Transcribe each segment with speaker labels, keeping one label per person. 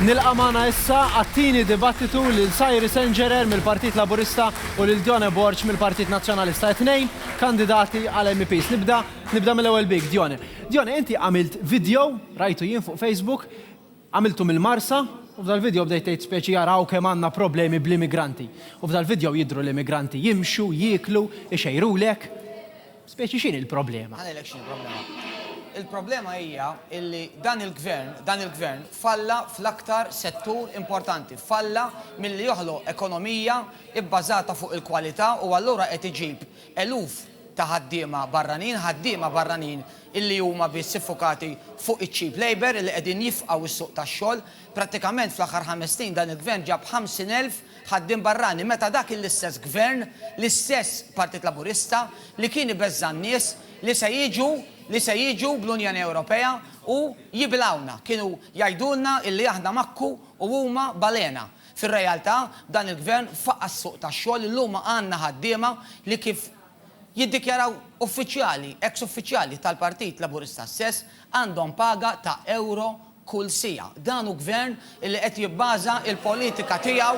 Speaker 1: Nilqa' magħna issa għat-tieni dibattitu lil Cyrus Engerer mill-Partit Laburista u lil Dione Borg mill-Partit Nazzjonalista, it-tnejn kandidati għal MEPs. Nibda nibda mill-ewwel bik, Dione. Dione, inti għamilt video, rajtu jien fuq Facebook, għamiltu mill-Marsa, u f'dal-video bdejt tgħid speċi araw kemm għandna problemi bl-immigranti. U f'dal-video jidhru l-immigranti jimxu, jieklu, ixejrulek. Speċi x'inhi l-problema? Ħa ngħidlek x'inhi l-problema.
Speaker 2: Il-problema hija illi dan il-gvern, dan il-gvern falla fl-aktar settur importanti, falla milli joħloq ekonomija bbażata fuq il-kwalità u allura qed iġib eluf ta' ħaddiema barranin, ħaddiema barranin illi huma biss iffukati fuq iċ-cheap labour illi qegħdin jifqgħu s-suq tax-xogħol, Prattikament fl-aħħar ħames snin dan il-Gvern ġab 50,000 ħaddiem barrani meta dak l-istess Gvern, l-istess Partit Laburista li kien ibeżża' n-nies li se jiġu li se jiġu bl-Unjoni Ewropea u jibilgħuna kienu jgħidulna illi aħna makku u huma balena. Fir-realtà dan il-Gvern faqqa' s-suq tax-xogħol illum għandna ħaddiema li kif jiddikjaraw uffiċjali, ex-uffiċjali tal-Partit Laburista stess għandhom paga ta' ewro kull siegħa. Dan hu Gvern illi qed jibbaża l-politika tiegħu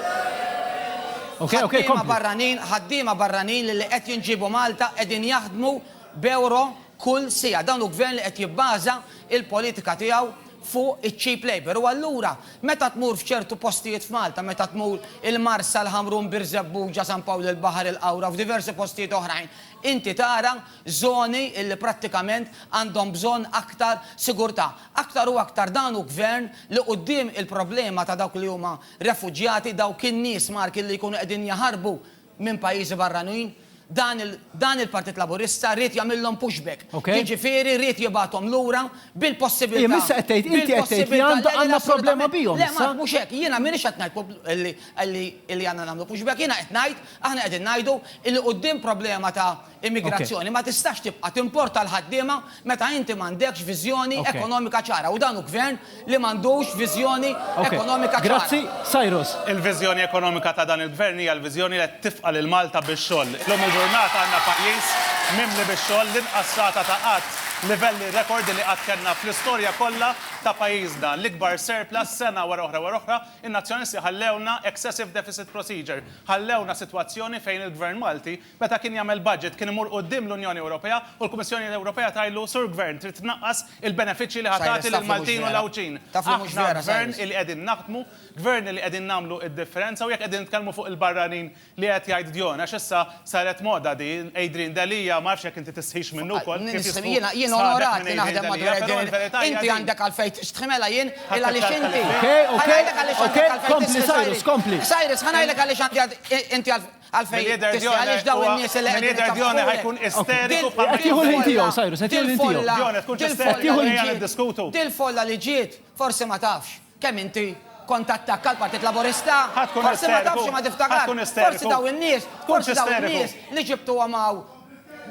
Speaker 2: fuq ħaddiema barranin, ħaddiema barranin lilli qed jinġiebu Malta qegħdin jaħdmu b'ewro kull siegħa. Dan hu Gvern li qed jibbaża l-politika tiegħu fuq iċ-cheap labour. U allura meta tmur f'ċertu postijiet f'Malta, meta tmur il-Marsa, l-Ħamrun, Birżebbuġa, San Pawl il-Baħar, il-Qawra u f'diversi postijiet oħrajn, inti tara żoni illi prattikament għandhom bżonn aktar sigurtà. Aktar u aktar dan hu Gvern li quddiem il-problema ta' dawk li huma refuġjati, dawk in-nies Marki li jkunu qegħdin jaħarbu minn pajjiżi barranin, dan il-Partit Laburista ried jagħmilhom pushback, jiġifieri ried jibgħathom lura bil-possibiltà, bil-possibiltà,
Speaker 1: le, le, le, assolutament, le, Mark, mhux hekk, jiena
Speaker 2: m'iniex qed ngħid li għandna nagħmlu pushback, jiena qed ngħid, aħna qegħdin ngħidu li quddiem problema ta', Immigrazzjoni ma tistax tibqa' timporta l-ħaddiema meta inti m'għandekx viżjoni ekonomika ċara u dan hu Gvern li m'għandux viżjoni ekonomika ċara. Grazzi, Cyrus.
Speaker 1: Il-viżjoni ekonomika
Speaker 3: ta' dan il-Gvern hija l-viżjoni li qed tifqa' lil Malta bix-xogħol. Illum il-ġurnata għandna pajjiż mimli bix-xogħol, l-inqas rata ta' qgħad, livelli rekord li qatt kellna fl-istorja kollha ta' pajjiżna, l-ikbar surplus sena wara oħra wara oħra, in-Nazzjonalisti ħallewna excessive deficit procedure, ħallewna sitwazzjoni fejn il-Gvern Malti Meta kien jagħmel budget kien imur quddiem l-Unjoni Ewropea u l-Kummissjoni Ewropea tgħidlu, Sur Gvern, trid tnaqqas il-benefiċċji li ħa tagħti lill-Maltin u l-Għawdxin. Aħna Gvern li qegħdin naħdmu, Gvern li qegħdin nagħmlu d-differenza u jekk qegħdin nitkellmu fuq il-barranin li qed jgħid djon, għax issa saret moda din, Adrian Delia, ma nafx jekk inti tistħix minnu wkoll, kif jistħu sħabek
Speaker 2: minn Adrian Delia, però l-verità hija din. Ħadd iċċellef il-kelma. Okej, okej, okej,
Speaker 1: kompli Cyrus, kompli.
Speaker 2: Għalfejn tistħi
Speaker 3: għaliex dawn in-nies
Speaker 1: li qegħdin ifakkru.
Speaker 3: Dil-folla li
Speaker 2: ġiet forsi ma tafx kemm inti kont tattakka l-Partit Laburista. Forsi ma tafx imma tiftakarx. Forsi dawn in-nies, forsi dawn in-nies li ġibtuhom hawn,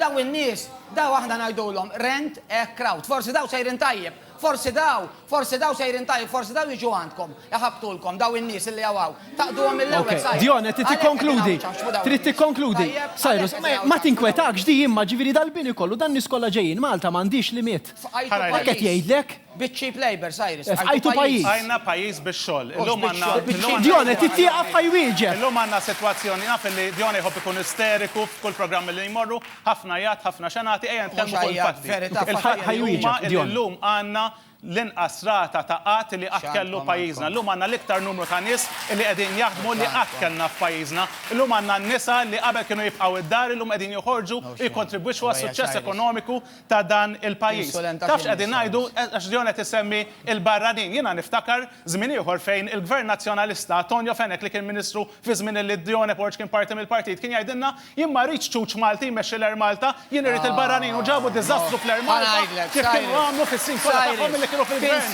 Speaker 2: dawn in-nies, dawn aħna ngħidulhom rent-a-crowd. Forsi dawn sejrin tajjeb. Forsi daw, forsi daw sejrin tajjeb, forsi daw jiġu għandkom, iħabbtulkom, daw in-nies illi hawn hawn. Taqduhom mill-ewwel, Cyrus. Dione, trid tikkonkludi,
Speaker 1: trid tikkonkludi. Cyrus, ma tinkwetax di imma, ġifieri dal-bini kollu, dan-nies kollha ġejjin, Malta m'għandhiex limiet. Hekk qed jgħidlek? Bit-cheap labour,
Speaker 2: Cyrus. Fqajtu pajjiż. Fqajna
Speaker 1: pajjiż bix-xogħol.
Speaker 3: Illum għandna. Dione, trid tieqaf
Speaker 1: ħa jwieġeb. Illum għandna sitwazzjoni,
Speaker 3: naf illi Dione jħobb ikun isteriku f'kull programm illi jmorru. Ħafna jgħadd, ħafna xenati, ejja nitkellmu fuq il-fatti. Il-fatti huma li llum għandna l-inqas rata ta' qgħad li qatt kellu pajjiżna. Llum għandna l-iktar numru ta' nies li qegħdin jaħdmu li qatt kellna f'pajjiżna. Llum għandna n-nisa li qabel kienu jibqgħu d-dar illum qegħdin joħorġu u jikkontribwixxu għas-suċċess ekonomiku ta' dan il-pajjiż. Taf x'qegħdin ngħidu? Għax John qed isemmi l-barranin. Jiena niftakar żmien ieħor fejn il-Gvern Nazzjonalista, Tonio Fenech li kien Ministru Fi żmien li Dione Porge kien parti mill-partit kien jgħidilna, Jien ma rridx ċuċ Malti jmexxi l-Air Malta, jien irrid il-barranin u ġabu diżastru fl-Air Malta
Speaker 1: kif kienu għamlu fis-sin kollha tagħhom milli kienu fil-Gvern.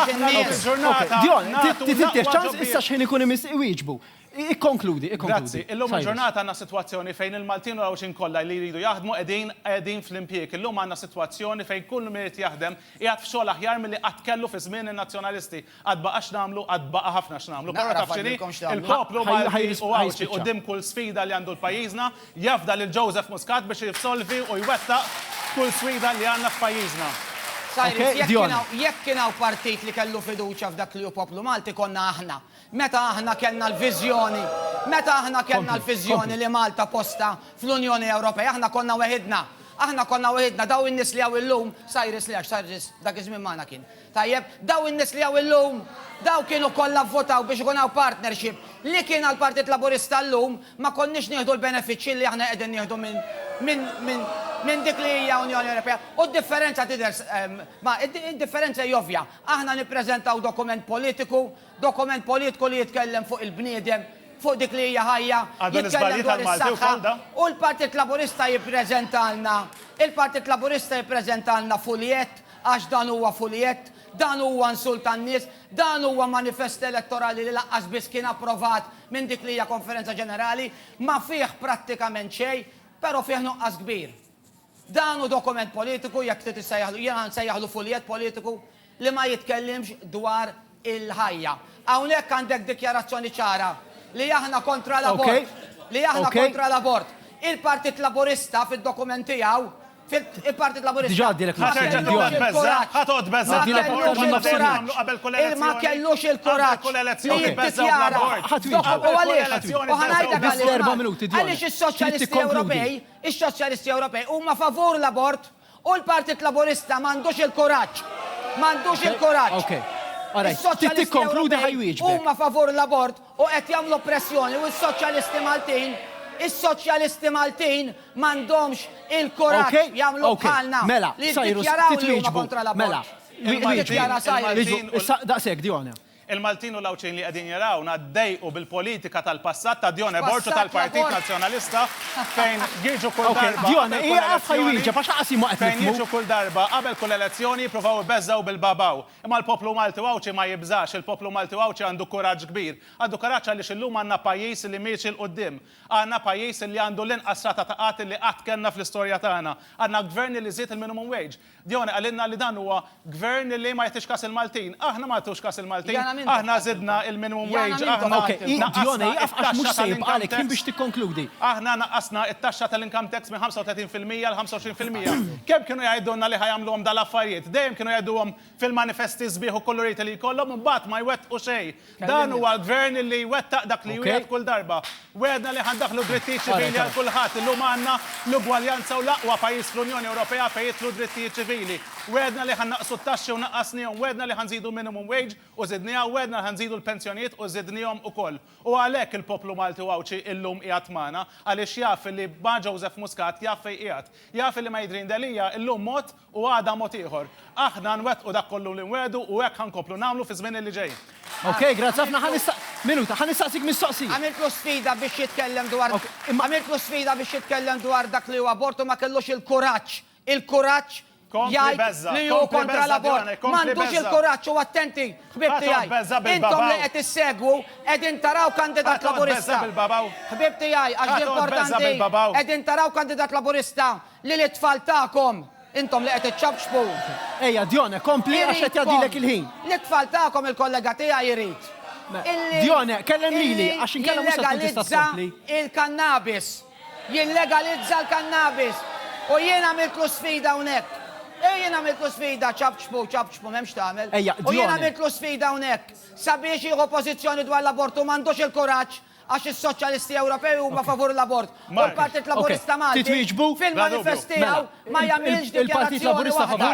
Speaker 1: Aħna llum il-ġurnata nagħtu l-aqwa ġobbiegħa. Ikkonkludi, ikkonkludi. Grazzi. Illum
Speaker 3: il-ġurnata għandna sitwazzjoni fejn il-Maltin u l-Għawdxin kollha li jridu jaħdmu qegħdin qegħdin fl-impjieg. Illum għandna sitwazzjoni fejn kull min irid jaħdem qiegħed f'xogħol aħjar milli qatt kellu fi żmien in-Nazzjonalisti. Għad baqa' x'nagħmlu, għad baqa' ħafna x'nagħmlu, però taf x'inhi, il-poplu Malti hu Għawdxi quddiem kull sfida li għandu pajjiżna, jafda lil Joseph Muscat biex jissolvi u jwettaq kull sfida li għandna f'pajjiżna. Cyrus,
Speaker 1: jekk kien hawn partit
Speaker 2: li kellu fiduċja f'dak li hu poplu Malti konna aħna. Meta aħna kellna l-viżjoni, meta aħna kellna l-viżjoni li Malta postha fl-Unjoni Ewropea, aħna konna weħidna. Aħna konna weħidna, dawn in-nies li hawn illum, Cyrus le għax Cyrus dak iż-żmien magħna kien, Tajjeb, dawn in-nies li hawn illum, dawn kienu kollha vvotaw biex ikun hawn partnership. Li kien għall-Partit Laburista llum, ma konniex nieħdu l-benefiċċji li aħna qegħdin nieħdu minn dik li hija Unjoni Ewropea. U d-differenza tidher, ma, id-differenza hi ovvja. Aħna nippreżentaw dokument politiku, dokument politiku li jitkellem fuq il-bniedem, fuq dik li hija ħajja, jitkellem dwar is-saħħa, u l-Partit Laburista jippreżentalna, il-Partit Laburista jippreżentalna fuljett Għax dan huwa fuljett, dan huwa insult għan-nies, dan huwa manifest elettorali li lanqas biss kien approvat minn dik li hija Konferenza Ġenerali. Ma fih prattikament xejn, però fih nuqqas kbir. Dan hu dokument politiku, jekk trid issejjaħlu, jiena nsejjaħlu fuljett politiku, li ma jitkellimx dwar il-ħajja. Hawnhekk għandek dikjarazzjoni ċara li aħna kontra l-abort, li aħna kontra l-abort. Il-Partit Laburista fid-dokument tiegħu, il-Partit Laburista
Speaker 1: ma kellux
Speaker 2: il-kuraġġ, ma kellux il-kuraġġ li jiddikjara u għaliex, u ħa ngħidlek għaliex, għaliex is-Soċjalisti Ewropej, is-Soċjalisti Ewropej huma favur l-abort. U l-Partit Laburista m'għandux il-kuraġġ, m'għandux il-kuraġġ. Is-Soċjalisti Ewropej huma favur l-abort u qed jagħmlu pressjoni u s-Soċjalisti Maltin, is-Soċjalisti Maltin m'għandhomx il-kuraġġ jagħmlu bħalna li jiddikjaraw li huma kontra l-abort. Jiddikjara Cyrus.
Speaker 1: Daqshekk, Dionne. Il-Maltin u l-Għawdxin
Speaker 3: li qegħdin jarawna ddejqu bil-politika tal-passat ta' Dione Borg u tal-Partit Nazzjonalista fejn jiġu kull darba qabel kull
Speaker 1: elezzjoni fejn jiġu kull darba
Speaker 3: qabel kull elezzjoni jippruvaw ibeżżgħu bil-bawbaw. Imma l-poplu Malti u Għawdxi ma jibżax, il-poplu Malti u Għawdxi għandu kuraġġ kbir. Għandu kuraġġ għaliex illum għandna pajjiż li miexi 'l quddiem. Għandna pajjiż li għandu l-inqas rata ta' qgħad li qatt kellna fl-istorja tagħna. Għandna Gvern li żied il-minimum wage. Dione qalilna li dan huwa Gvern li ma jagħtix kas il-Maltin. Aħna ma nagħtux kas il-Maltin. Aħna żidna il-minimum wage, aħna naqqasna
Speaker 1: it-taxxa tal-income tax. Aħna naqqasna
Speaker 3: it-taxxa tal-income tax minn 35 fil-mija għal 25 fil-mija. Kemm kienu jgħidulna li ħa jagħmluhom dal-affarijiet. Dejjem kienu jgħiduhom fil-manifesti sbieħ u kuluriti li jkollhom u mbagħad ma jwettqu xejn. Dan huwa l-Gvern li jwettaq dak li jwiegħed kull darba. Wegħedna li ħa ndaħħlu drittijiet ċivili għal kulħadd. Illum għandna l-ugwaljanza u l-aqwa pajjiż fl-Unjoni Ewropea fejn jidħlu d-drittijiet ċivili. Wegħedna li ħa nnaqqsu t-taxxi u naqqasnihom. Wegħedna li ħa nżidu minimum wage u żidniha. Wegħedna li ħa nżidu l-pensjonijiet u żidnihom ukoll. U għalhekk il-poplu Malti u Għawdxi illum qiegħed magħna. Għaliex jaf li ma' Joseph Muscat jaf fejn qiegħed. Jaf li ma' Adrian Delia illum mod U għada mod ieħor. Aħna nwettqu dak kollu li nwegħdu u hekk ħa nkomplu nagħmlu fiż-żmien li ġej. Ok, grazzi ħafna.
Speaker 1: Ħa nista'. Minuta, ħa nistaqsik mistoqsija. Għamiltlu sfida biex
Speaker 2: jitkellem dwar. Ok, imma. Għamiltlu sfida biex jitkellem dwar dak li hu abort u ma kellux il-kuraġġ, il-kuraġġ jgħid li hu kontra l-abort. M'għandux il-kuraġġ u attenti, ħbieb tiegħi. Intom li qed issegwu qegħdin taraw kandidat Laburista. Ħbieb tiegħi, għax importanti, qegħdin taraw kandidat Laburista. Lil it-tfal tagħkom, intom li qed iċċapċpu. Ejja, Dione,
Speaker 1: kompli għax qed jgħaddilek il-ħin. Lit-tfal tagħkom
Speaker 2: il-kollega tiegħi jrid illi. Dione,
Speaker 1: kellem lili għax inkella mhux se tkun tista' tkompli. Jillegalizza il-kannabis.
Speaker 2: Jillegalizza l-kannabis. U jien għamiltlu sfida hawnhekk. Ej, jien għamiltlu sfida, ċapċpu, ċapċpu, m'hemm x'tagħmel. Ejja, Dione. U jien għamiltlu sfida hawnhekk sabiex jieħu pożizzjoni dwar l-abortu, m'għandux il-kuraġġ. Għax is-Soċjalisti Ewropej huma favur l-abort u l-Partit Laburista
Speaker 1: Malti
Speaker 3: fil-manifest tiegħu ma
Speaker 1: jagħmilx
Speaker 3: dikjarazzjoni
Speaker 1: waħda.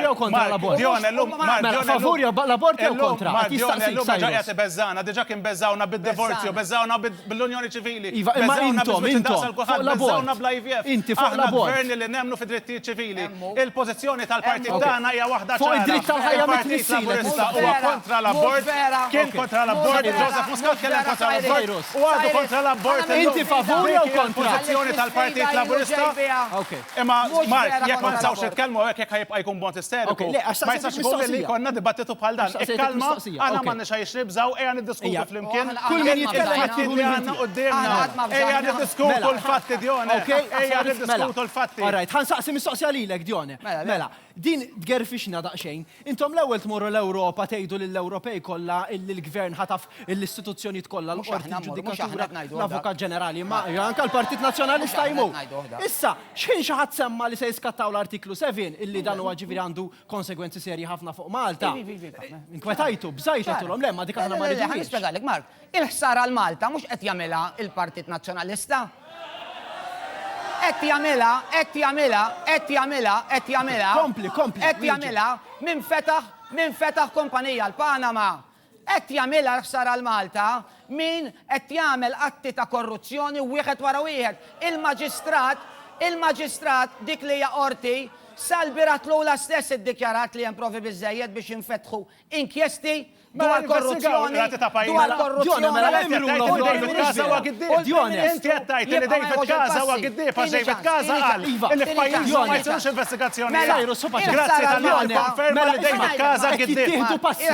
Speaker 3: Il-pożizzjoni tal-partit tagħna hija waħda ċara. Il-Partit
Speaker 1: Laburista
Speaker 3: huwa kontra l-abort, kien kontra l-abort, Joseph Muscat tkellem kontra l-abort u għadu kontra l-abort illum. Dik hija
Speaker 1: l-pożizzjoni tal-Partit
Speaker 3: Laburista. Imma Mark, jekk ma nistgħux nitkellmu hawnhekk jekk ħa jibqa' jkun b'mod isteriku, ma jistax ikun li jkollna dibattitu bħal dan. Ikkalma. Aħna m'għandniex għaliex nibżgħu, ejja niddiskutu flimkien kull min jitkellem
Speaker 1: it-tieħu li għandna quddiemna.
Speaker 3: Ejja niddiskutu l-fatti,
Speaker 1: Dione. Ejja
Speaker 3: niddiskutu l-fatti. All
Speaker 1: right, ħa nsaqsi
Speaker 3: mistoqsija
Speaker 1: lilek,
Speaker 3: Dione.
Speaker 1: Mela, din tgerfixna daqsxejn. Intom l-ewwel tmorru l-Ewropa tgħidu lill-Ewropej kollha illi l-Gvern ħataf l-istituzzjonijiet kollha, l-Qorti, il-Ġudikatura, l-Avukat Ġenerali, ma anke l-Partit Nazzjonalista jmur. Issa, xħin xi ħadd semma' li se jiskattaw l-Artiklu 7 illi dan huwa ġifieri għandu konsegwenzi serji ħafna fuq Malta. Inkwetajtu, bżajtu għatulhom, le, ma dik aħna ma rridux. Ħa nispjegalek, Mark,
Speaker 2: il-ħsara għal Malta mhux qed jagħmilha il-Partit Nazzjonalista. Qed jagħmilha, qed jagħmilha, qed jagħmilha, qed jagħmilha. Kompli, kompli. Qed jagħmilha minn fetaħ, minn fetaħ kumpanija l-Panama. Qed jagħmilha l-ħsara għal Malta min qed jagħmel atti ta' korruzzjoni wieħed wara wieħed. Il-Maġistrat, il-Maġistrat, dik li hija Qorti, sal-bieraħ tlula stess iddikjarat li hemm provi biżżejjed biex jinfetħu inkjesti dwar korruzzjoni, dwar
Speaker 3: korruzzjoni.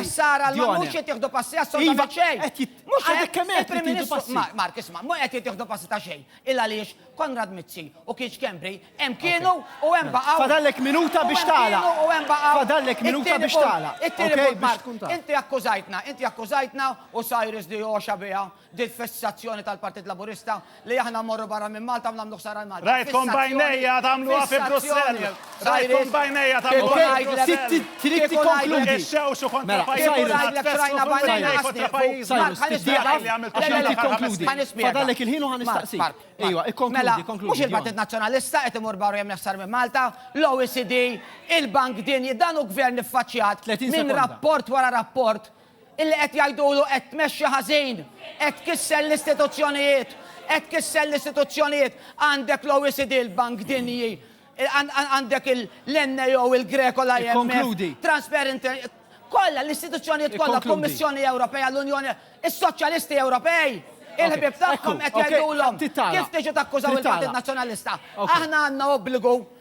Speaker 3: Sar għal ma
Speaker 2: mhux qed jieħdu passi iva, assolutament xejn. Mhux għadek kemm qed jieħdu
Speaker 1: passi. Mark, isma',
Speaker 2: mhux qed jieħdu passi ta' xejn. Il għaliex Konrad Mizzi u Kiċ Kembri hemm kienu u hemm baqgħu. Fadallek minuta biex
Speaker 1: tagħlaq. U hemm baqgħu. Fadallek minuta biex tagħlaq. It-tieni punt, Mark, inti akkużajtna,
Speaker 2: inti akkużajtna u Cyrus Dioxa biha. dil-fissazzjoni tal-Partit Laburista li aħna mmorru barra minn Malta u nagħmlu ħsara lil Malta. Rajtkom b'għajnejja
Speaker 3: tagħmluha fi Brussell! Rajtkom b'għajnejja tagħmluha fi Brussell! Trid tikkonkludi.
Speaker 1: Ixxewxu kontra
Speaker 3: pajjiżna,
Speaker 1: tfessru fuq il-għajnejn kontra pajjiżna. Fadallek il-ħin u ħa nistaqsik. Ejwa, ikkonkludi, konkludi. Mhux il-Partit Nazzjonalista
Speaker 2: qed imur barra jagħmel ħsara minn Malta, l-OECD, il-Bank Dinji, dan hu Gvern iffaċċjat minn rapport wara rapport Illi qed jgħidulu qed tmexxi ħażin, qed tkisser l-istituzzjonijiet, qed tkisser l-istituzzjonijiet. Għandek l-OECD, il-Bank Dinji, għandek l-NAO, il-Greco, l-IMF, Transparency, kollha l-istituzzjonijiet kollha, il-Kummissjoni Ewropea, l-Unjoni, is-Soċjalisti Ewropej, il-ħbieb tagħhom qed jgħidulhom kif tiġu takkużaw il-Partit Nazzjonalista. Aħna għandna obbligu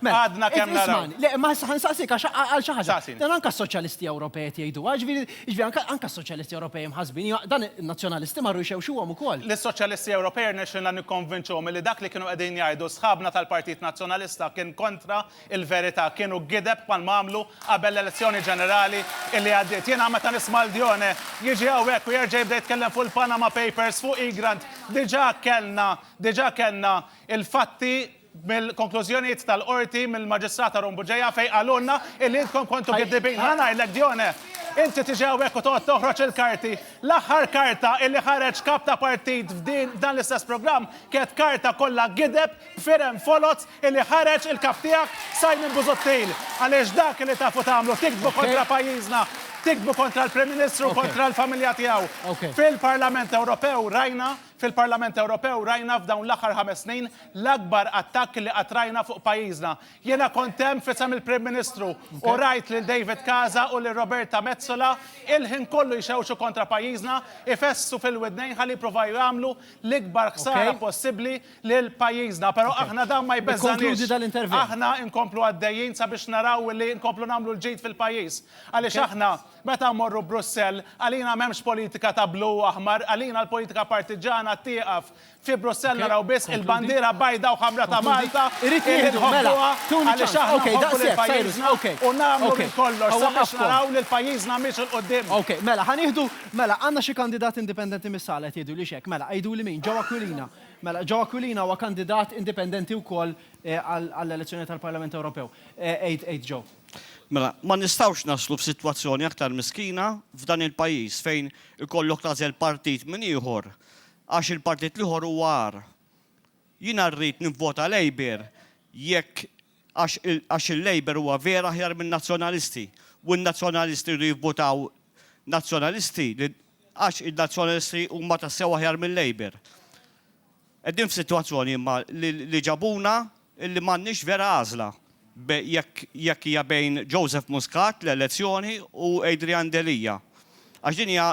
Speaker 1: Mela, għadna kemm naraw.
Speaker 3: Le, ma nsaqsik
Speaker 1: għax għal xi ħaġa. Dan anke s-Soċjalisti Ewropej qed jgħiduha, ġifieri anke s-Soċjalisti Ewropej mħassbin, dan in-Nazzjonalisti marru jxewxuhom ukoll. Lis-Soċjalisti Ewropej
Speaker 3: rnexxielna nikkonvinċuhom li dak li kienu qegħdin jgħidu sħabna tal-Partit Nazzjonalista kien kontra l-verità, kienu gideb bħalma għamlu qabel l-elezzjoni ġenerali li għaddiet. Jiena meta nisma' lil Dione jiġi hawnhekk u jerġa' jibda jitkellem fuq il-Panama Papers, fuq Egrant, diġà kellna, diġà kellna l-fatti, mill-konklużjonijiet tal-Qorti mill-Maġistrat Arun Bugeja fejn qalulna illi intkom kontu kiddibin. Ħa ngħidlek Dione, inti tiġi hawnhekk u toqgħod toħroġ il-karti. L-aħħar karta illi ħareġ kap ta' partit f'din f'dan l-istess programm kienet karta kollha gideb b'firem foloz illi ħareġ il-kap tiegħek Simon Busuttil. Għaliex dak illi tafu tagħmlu tiktbu kontra pajjiżna, tiktbu kontra l-Prim Ministru, kontra l-familja tiegħu. Fil-Parlament Ewropew rajna Fil-Parlament Ewropew rajna f'dawn l-aħħar ħames snin l-akbar attakk li qatt rajna fuq pajjiżna. Jiena kont hemm f'isem il-Prim Ministru u rajt lil David Casa u lil Roberta Metsola il-ħin kollu jxewxu kontra pajjiżna, ifessu fil-widnejn ħalli jippruvaw jagħmlu l-ikbar ħsara possibbli lil pajjiżna. Però aħna dan ma jbeżżagħniex. Aħna nkomplu għaddejjin sabiex naraw li nkomplu nagħmlu l-ġid fil-pajjiż għaliex aħna Meta mmorru Brussell, għalina m'hemmx politika ta' blu u aħmar, għalina l-politika partiġana tieqaf. Fi Brussell naraw biss il-bandiera bajda u ħamra ta' Malta illi nħobbuha għaliex
Speaker 1: aħna nħobbu lil pajjiżna u nagħmlu minn kollox sabiex naraw lil pajjiżna miexi 'l quddiem. Mela, ma
Speaker 4: nistgħux naslu f'sitwazzjoni aktar miskina f'dan il-pajjiż fejn ikollok tagħżel partit minn ieħor għax il-partit l-ieħor huwa agħar. Jiena rrid nivvota Labour jekk għax għax il-Labour huwa vera aħjar min-Nazzjonalisti u n-Nazzjonalisti jridu jivvotaw Nazzjonalisti li għax in-Nazzjonalisti huma tassew aħjar mil-Labour. Qegħdin f'sitwazzjoni imma li ġabuna illi m'għandniex vera għażla jekk jekk hija bejn Joseph Muscat, l-elezzjoni, u Adrian Delia, għax din hija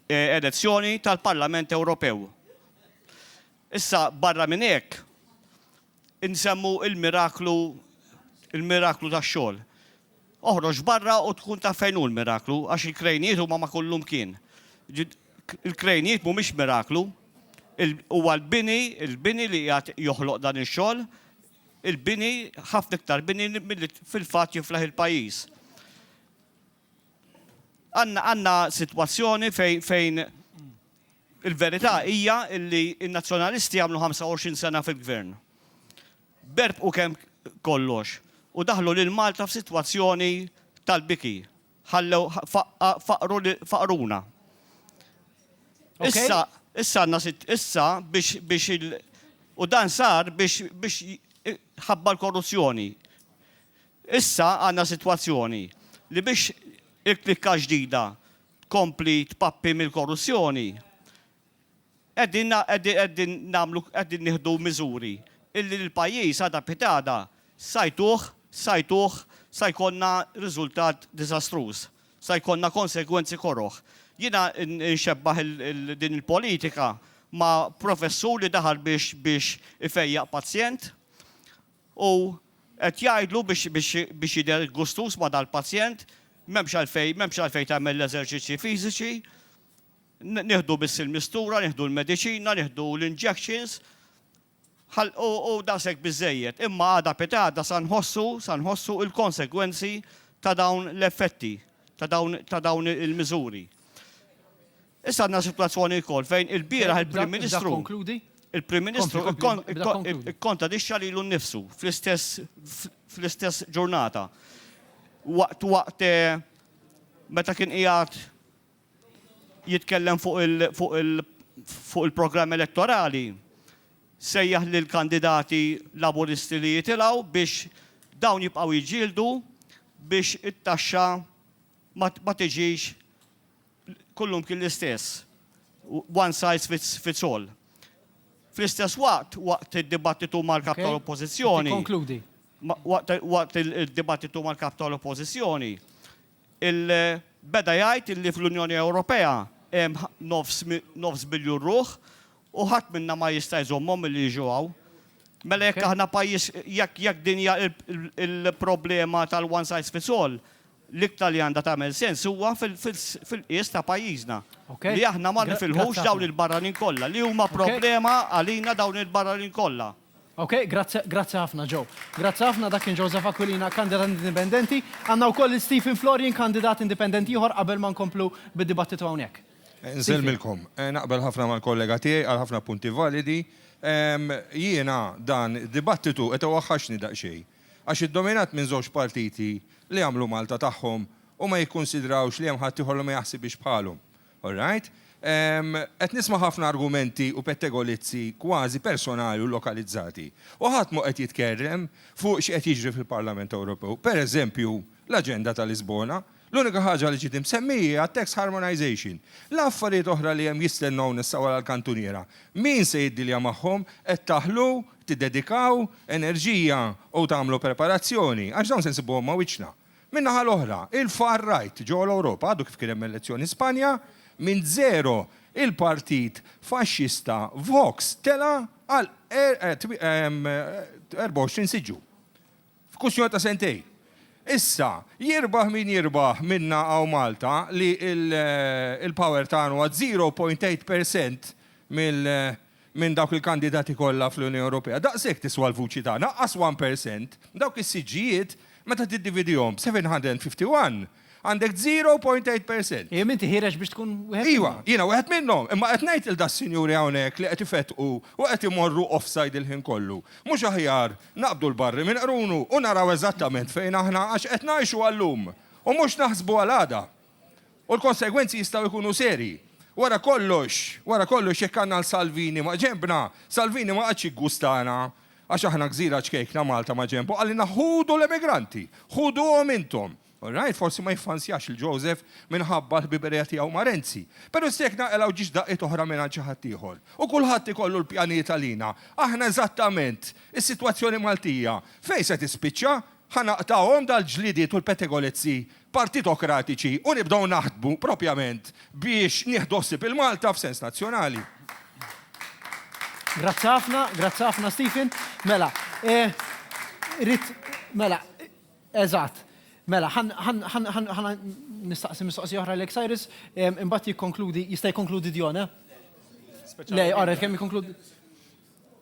Speaker 4: elezzjoni tal-Parlament Ewropew. Issa, barra minn hekk, insemmu l-miraklu l-miraklu tax-xogħol. Oħroġ barra u tkun taf fejn hu l-miraklu, għax il-krejnijiet huma ma' kullumkien. Il-krejnijiet mhumiex miraklu. Huwa l-bini, il-bini li qiegħed joħloq dan ix-xogħol. Il-bini, ħafna iktar bini milli fil-fatt jiflaħ il-pajjiż. Għandna sitwazzjoni fejn il-verità hija li n-Nazzjonalisti għamlu 25 sena fil-Gvern. Berbqu kemm kollox u daħlu lil Malta f'sitwazzjoni tal-biki. Ħallew faqruna. Issa issa għandna sitt issa biex biex il u dan sar biex biex ħabba l-korruzzjoni. Issa għandna sitwazzjoni li biex il-klikka ġdida tkompli tpappi mill-korruzzjoni, qegħdin qegħdin nagħmlu qegħdin nieħdu miżuri illi l-pajjiż għada pitada sa jtuh sa jtuh sa jkollna riżultat diżastruż, sa jkollna konsegwenzi koroh. Jiena nxebbah din il-politika ma' professur li daħal biex biex ifejjaq pazjent u qed jgħidlu biex biex biex jidher gustuż ma' dal-pazjent, m'hemmx għalfejn m'hemmx għalfejn tagħmel l-eżerċizzji fiżiċi, Nieħdu biss il-mistura, nieħdu l-mediċina, nieħdu l-injections, u daqshekk biżżejjed. Imma għada pitgħada sa nħossu, sa nħossu l-konsegwenzi ta' dawn l-effetti, ta' dawn il-miżuri. Issa għandna sitwazzjoni wkoll fejn ilbieraħ il-Prim Ministru. Il-Prim Ministru ikkontradixxa lilu nnifsu fl-istess ġurnata. Waqt waqt meta kien qiegħed jitkellem fuq il-programm elettorali, sejjaħ lill-kandidati Laburisti li jitilgħu biex dawn jibqgħu jiġġieldu biex it-taxxa ma tiġix kullumkien l-istess, one size fits all. Fl-istess waqt, waqt id-dibattitu mal-Kap tal-Oppożizzjoni,
Speaker 1: waqt
Speaker 4: id-dibattitu mal-Kap tal-Oppożizzjoni, Il beda jgħid li fl-Unjoni Ewropea hemm nofs nofs biljun ruħ u ħadd minna ma jista' jżommhom milli jiġu hawn. Mela jekk aħna pajjiż jekk jekk din hija l-problema tal-one size fits all, l-iktar li għandha tagħmel sens huwa fil-qies ta' pajjiżna. Li aħna ma nifilħux dawn il-barranin kollha, li huma problema għalina dawn il-barranin kollha. Ok, grazzi,
Speaker 1: grazzi ħafna Joe. Grazzi ħafna dak kien Joseph Aquilina, kandidat indipendenti. Għandna wkoll lil Stephen Florian, kandidat indipendenti ieħor qabel ma nkomplu bid-dibattitu hawnhekk. Nselmilkom.
Speaker 5: Naqbel ħafna mal-kollega tiegħi, qal ħafna punti validi. Jiena dan id-dibattitu qed iwaħħaxni daqsxejn. Għax iddominat minn żewġ partiti li jagħmlu Malta tagħhom u ma jikkunsidrawx li hemm ħaddieħor li ma jaħsibhiex bħalhom. All right. Qed nisma' ħafna argumenti u pettegolizzi kważi personali u lokalizzati. U ħadd mhu qed jitkerrem fuq x'qed jiġri fil-Parlament Ewropew. Per eżempju, l-aġenda ta' Lisbona. L-unika ħaġa li ġiet imsemmija hija t-tax harmonisation. La affarijiet oħra li hemm jistennewna issa wara l-kantuniera. Min se jiddilja magħhom? Qed taħlu, tiddedikaw, enerġija u tagħmlu preparazzjoni? Għax dawn se nsibuhom ma' wiċċna. Min-naħa l-oħra, il-far right ġewwa l-Ewropa għadu kif kien hemm elezzjoni Spanja, minn żero il-partit faxxista Vox tela' għal 24 siġġu f'kwistjoni ta' sentejn. Issa, jirbaħ min jirbaħ minna hawn Malta li l-power tagħna huwa 0.8 per cent mill minn dawk il-kandidati kollha fl-Unjoni Ewropea, daqshekk tiswa l-vuċi tagħna, qas one percent, dawk is-siġġijiet meta tiddividihom b'751 għandek zero point eight percent. Ejjem inti ħiereġ biex
Speaker 1: tkun wieħed minnhom. Iva, jiena wieħed minnhom,
Speaker 5: imma qed ngħid lil das-sinjuri hawnhekk li qed ifettqu u qed imorru offside il-ħin kollu, mhux aħjar naqbdu l-barri minn qrunu u naraw eżattament fejn aħna għax qed ngħixu għal-lum u mhux naħsbu għal għada. U l-konsegwenzi jistgħu jkunu serji. Wara kollox, wara kollox jekk għandna l Salvini ma' ġenbna, Salvini ma qagħadx jiggustana għax aħna gżira ċkejkna Malta ma' ġenbu, qalilna ħudu l-emigranti, ħuduhom intom. All right, forsi ma jiffansjax lil Joseph minħabba l-ħbiberija tiegħu ma' Renzi. Però issa jekk naqilgħu ġiex daqqiet oħra mingħand xi ħadd ieħor. U kulħadd ikollu l-pjanijiet għalina. Aħna eżattament, is-sitwazzjoni Maltija, fejn se tispiċċa? Ħa naqtgħuhom dal-ġlidiet u l-petegolezzi partitokratiċi u nibdew naħdmu propjament biex nieħdu ħsieb il-Malta f'sens nazzjonali.
Speaker 1: Grazzi
Speaker 5: ħafna,
Speaker 1: grazzi ħafna Stephen. Mela, rrit, mela, eżatt. Mela, ħan nistaqsi mistoqsi oħra l Cyrus, imbagħad jikkonkludi, jista' jikkonkludi Dion, eh? Le, għarret kemm jikkonkludi.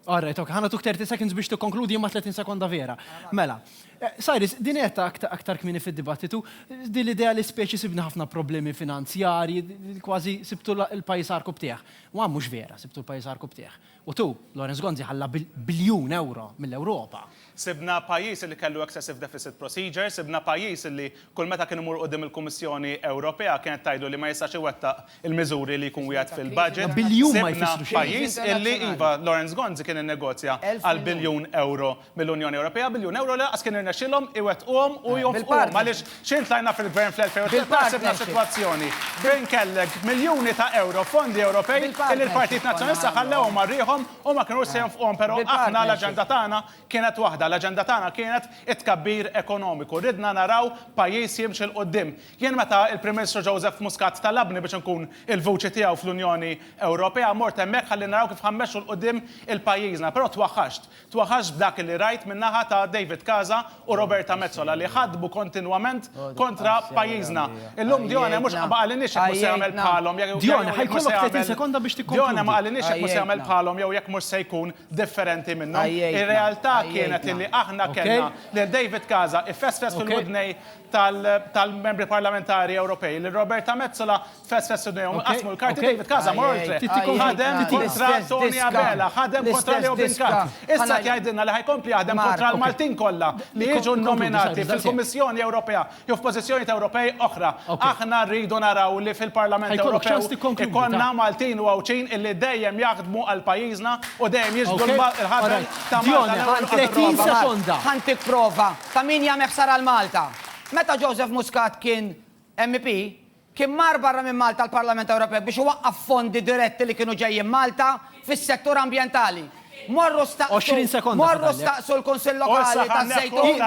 Speaker 1: All right, ok, ħana tuk 30 seconds biex tikkonkludi imma 30 sekonda vera. Mela, eh, Cyrus, din qed aktar, aktar kmini fid-dibattitu, din l-idea li speċi sibna ħafna problemi finanzjarji, kważi sibtu l-pajis arku btieħ. U mhux vera, sibtu l-pajis arku btieħ. U tu, Lawrence Gonzi ħalla biljun euro mill-Ewropa. Sibna pajjiż
Speaker 3: li kellu excessive deficit procedure, sibna pajjiż li kull meta kien imur quddiem il-Kummissjoni Ewropea kienet tgħidlu li ma jistax iwettaq il-miżuri li jkun wiegħed fil-budget, sibna
Speaker 1: pajjiż
Speaker 3: li,
Speaker 1: iva,
Speaker 3: Lawrence Gonzi kien innegozja għal biljun ewro mill-Unjoni Ewropea, biljun ewro li lanqas kien irnexxielhom iwettquhom u jonfquhom għaliex x'ħin tlajna fil-Gvern fl-2013 sibna sitwazzjoni fejn kellek miljuni ta' ewro fondi Ewropej li l-Partit Nazzjonalista ħallewhom għal riħhom Huma kienu se jonfquhom però aħna l-aġenda tagħna kienet waħda, l-aġenda tagħna kienet it-tkabbir ekonomiku. Ridna naraw pajjiż jimxi 'l quddiem. Jien meta l-Prim Ministru Joseph Muscat talabni biex inkun il-vuċi tiegħu fl-Unjoni Ewropea, mort hemmhekk ħalli naraw kif ħa mmexxu 'l quddiem il-pajjiżna, però twaħħaxt. Twaħħaxt b'dak li rajt min-naħa ta' David Casa u Roberta Metsola li ħadmu kontinwament kontra pajjiżna. Illum Dione mhux ma qalinniex jekk mhux se jagħmel bħalhom jew Dione ħajkollok
Speaker 1: 30 sekonda biex tikkonkludi. Dione ma qalinniex jekk mhux se jagħmel
Speaker 3: bħalhom jew jekk mhux se jkun differenti minnhom. Ir-realtà kienet illi aħna kellna lil David Casa jfesfes fil-widnejn tal-Membri Parlamentari Ewropej, lil Roberta Metsola Fest fest u dejhom inqasmu l-karti David Casa mor il-triq. Ħadem kontra Tony Abela, ħadem kontra Leo Binkart. Issa qed jgħidilna li ħa jkompli jaħdem kontra l-Maltin kollha li jiġu nnominati fil-Kummissjoni Ewropea jew f'pożizzjonijiet Ewropej oħra. Aħna rridu naraw li fil-Parlament Ewropew ikollna Maltin u Għawdxin illi dejjem jaħdmu għal pajjiżna u dejjem jiġbdu l-ħabel ta' Malta l-ewwel u qabel ir-rogħba.
Speaker 1: Ħa ntik prova
Speaker 2: ta' min jagħmel ħsara 'l Malta. Meta Joseph Muscat kien MEP, Kien mar barra minn Malta għall-Parlament Ewropew biex iwaqqaf fondi diretti li kienu ġejjin Malta fis-settur ambjentali. Morru staqsu, morru staqsu l-Kunsill Lokali taż-Żejtun,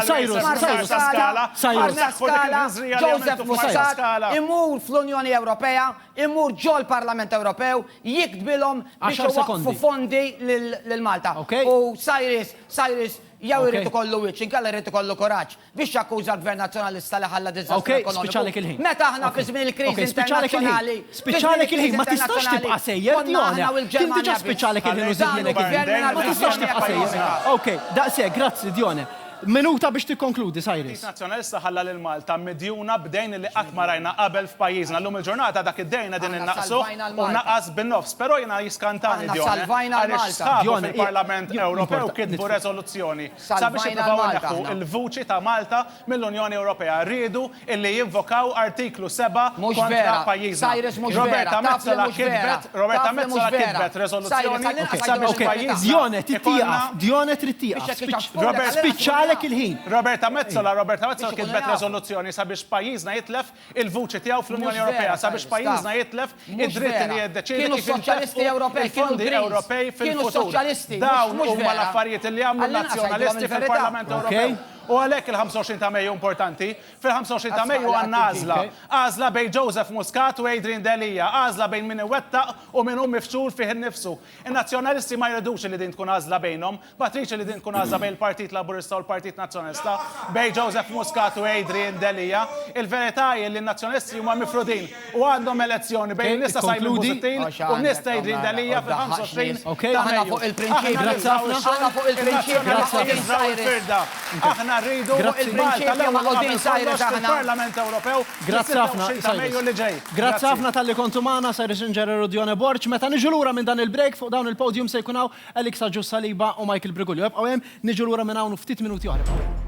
Speaker 2: Marsaskala, Marsaskala, Joseph Muscat imur fl-Unjoni Ewropea, imur ġol-Parlament Ewropew jiktbilhom biex iwaqqfu fondi lil Malta. U Cyrus, Cyrus jew irid ikollu wiċċ inkella jrid ikollu kuraġġ. Biex jakkuża l-Gvern Nazzjonalista li ħalla diżastru ekonomiku. Meta aħna fi żmien il-kriżi internazzjonali. Spiċċalek il-ħin,
Speaker 1: ma tistax tibqa' sejjer. Konna aħna u l-Ġermanja. Kien diġà spiċċalek il-ħin u żidielek il-ħin. Ma tistax tibqa' sejjer. Okej, daqshekk, grazzi Dione. Minuta biex tikkonkludi, Cyrus. Il-Partit Nazzjonalista ħalla lil
Speaker 3: Malta midjuna b'dejn li qatt ma rajna qabel f'pajjiżna. Llum il-ġurnata dak id-dejn qegħdin innaqsuh u naqas bin-nofs. Però jiena jiskantani Dione għaliex sħabu fil-Parlament Ewropew kitbu reżoluzzjoni Sabiex jippruvaw ineħħu l-vuċi ta' Malta mill-Unjoni Ewropea riedu illi jinvokaw Artiklu 7 kontra pajjiżna. Roberta Metsola kitbet Roberta Metsola kitbet reżoluzzjoni sabiex f'pajjiżna Dione trid tieqaf
Speaker 1: Dione trid tieqaf spiċċalek il-ħin. Roberta
Speaker 3: Metsola Roberta Metsola kitbet reżoluzzjoni sabiex pajjiżna jitlef il-vuċi tiegħu fl-Unjoni Ewropea sabiex pajjiżna jitlef id-dritt li jiddeċiedi kif jintefqu il-fondi Ewropej fil-futur. Dawn huma l-affarijiet li għamlu n-Nazzjonalisti fil-Parlament Ewropew. U għalhekk il-25 ta' Mejju importanti. Fil-25 ta' Mejju għandna għażla. Għażla bejn Joseph Muscat u Adrian Delia. Għażla bejn min iwettaq u min hu mifxul fih innifsu. In-Nazzjonalisti ma jridux li din tkun għażla bejnhom. Matriċi li din tkun għażla bejn il-Partit Laburista u l-Partit Nazzjonalista, bejn Joseph Muscat u Adrian Delia. Il-verità hi li n-Nazzjonalisti huma mifrudin u għandhom elezzjoni bejn in-nies ta' Simon Busuttil u n-nies ta' Adrian Delia fil-25 ta' Mejju. Aħna nibżgħu x-xogħol, in-Nazzjonalisti jibżgħu l-firda. Aħna rridu Malta l-ewwel u qabel kollox fil-Parlament Ewropew fis-26 ta' Mejju
Speaker 1: li ġej. Grazzi ħafna talli kontu magħna, Cyrus Singer u Dione Borg. Meta niġu lura minn dan il-break, fuq dawn il-podium se jkun hawn Alex Agius Saliba u Michael Brigulio. Ibqgħu hemm, niġu lura minn hawn u ftit minuti oħra.